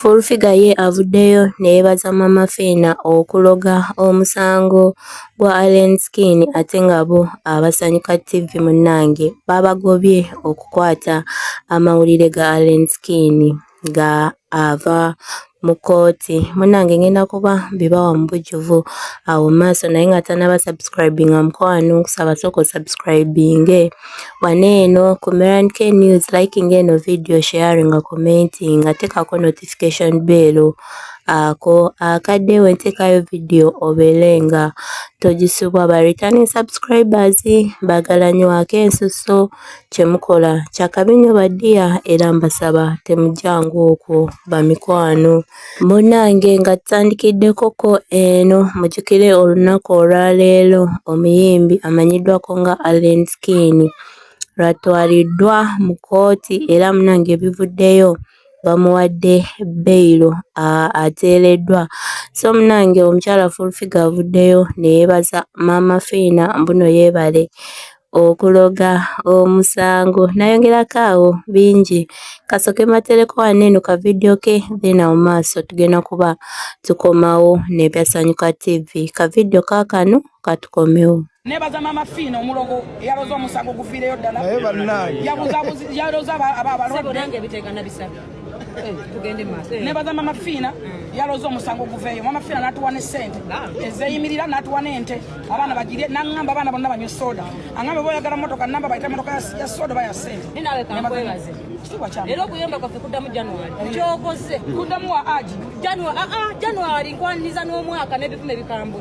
Fulfiga ye avuddeyo neyebaza Mama Fiina okuloga omusango gwa Alien Skin ate nga bo abasanyuka TV munnange babagobye okukwata amawulire ga Alien Skin nga ava mu kkooti munnange ngenda kuba mbibawa mu bujjuvu awo maaso naye nga tanaba subscribinga mukwano nkusaba sooka osubscribinge Wano eno ku Meran K News liking eno video sharing nga commenting nga tekako notification bell ako akadde we ntekayo video obeere nga togisubwa ba returning subscribers bagala nyo ake ensuso kyemukola kyakabi nyo badiya era mbasaba temujangu okwo bamikwano Munnange nga tutandikiddekoko eno mujjukire olunaku olwaleero omuyimbi amanyiddwako nga Allen Skin lwatwaliddwa mu kkooti era munnange ebivuddeyo bamuwadde beyiro ateereddwa so munnange omukyala Full Figure avuddeyo ne yeebaza maama Fiina mbuno yeebale okuloga omusango nayongerako awo bingi kasoke matereko wano eno ka video ke then awo maaso tugenda kuba tukomawo nebyasanyuka tv ka video kakano katukomewo nebaza mama fiina omulogo yaloza omusango gufiireyo ddala yabuzabuzi yaloza aba abalonde nebaza mama fiina yaloza omusango guveeyo mama fiina natuwa ne sente ezeyimirira natuwa nente abaana bagirye nangamba abaana bonna banywe soda angambe boyagala motoka namba bayita motoka ya soda oba ya sente era okuyomba kwaffe kuddamu january eh. kyokoze kuddamu wa aji january ah, ah, nkwaniza n'omwaka n'ebikuma ebikambwe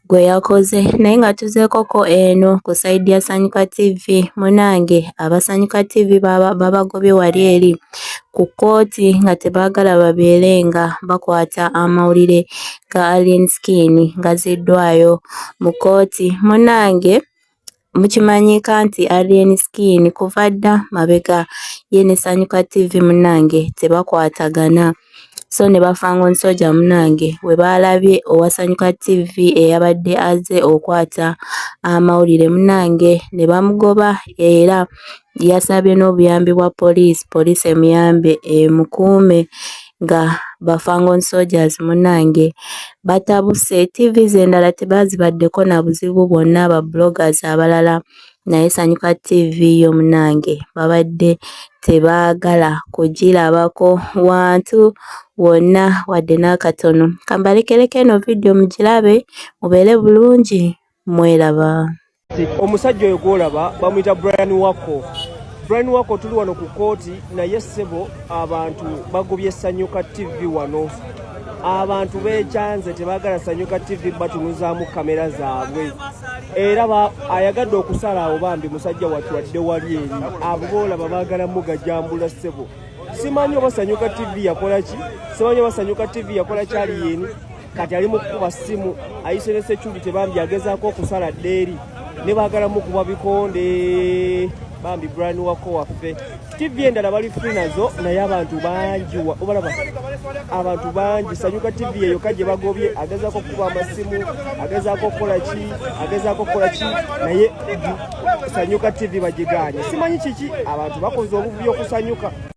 gwe yakoze naye nga tuzeekoko eno ku sayidi ya sanyuka tv munange abasanyuka tv babagobye wali eri ku kkooti nga tebaagala babeere nga bakwata amawulire ga alien skin ngaziddwayo mu kkooti munange Mukimanyiika nti Alien Skin kuva dda mabega ye ne Sanyuka TV munnange tebakwatagana so ne ba Fangon Soja munnange we baalabye owa Sanyuka TV eyabadde azze okwata amawulire munnange ne bamugoba era yasabye n'obuyambi bwa poliisi poliisi emuyambe emukuume nga ba Fangon Soldiers munnange batabuse TV z'endala tebaazibaddeko na buzibu bwonna ba bloggers abalala naye Sanyuka TV yo munnange babadde tebaagala kugirabako wantu wonna wadde n'akatono kambalekereko eno vidiyo mugirabe mubeere bulungi mweraba Omusajja oyo gwolaba bamuyita Brian Wako. Brian Wako tuli wano ku kooti naye sebo abantu bagobye Sanyuka TV wano. Abantu beekyanze tebagala Sanyuka TV batunuzaamu kamera zaabwe. Era ba ayagadde okusala awo bambi musajja watu wadde wali eri abo boolaba baagala mugajambula sebo. Simanyi oba Sanyuka TV yakola ki? Simanyi oba Sanyuka TV yakola kyali yeni? kati ali mu kukuba ssimu ayise ne security bambi agezaako okusala ddeeri ne baagala mukuba bikonde bambi brani wako waffe tv endala bali fri nazo naye abantu bangi obalaba abantu bangi sanyuka tv eyo ka gye bagobye agezaako okukuba amasimu agezaako okukola ki agezaako okukola ki naye sanyuka tv bagiganye simanyi kiki abantu bakoze obuvuyo okusanyuka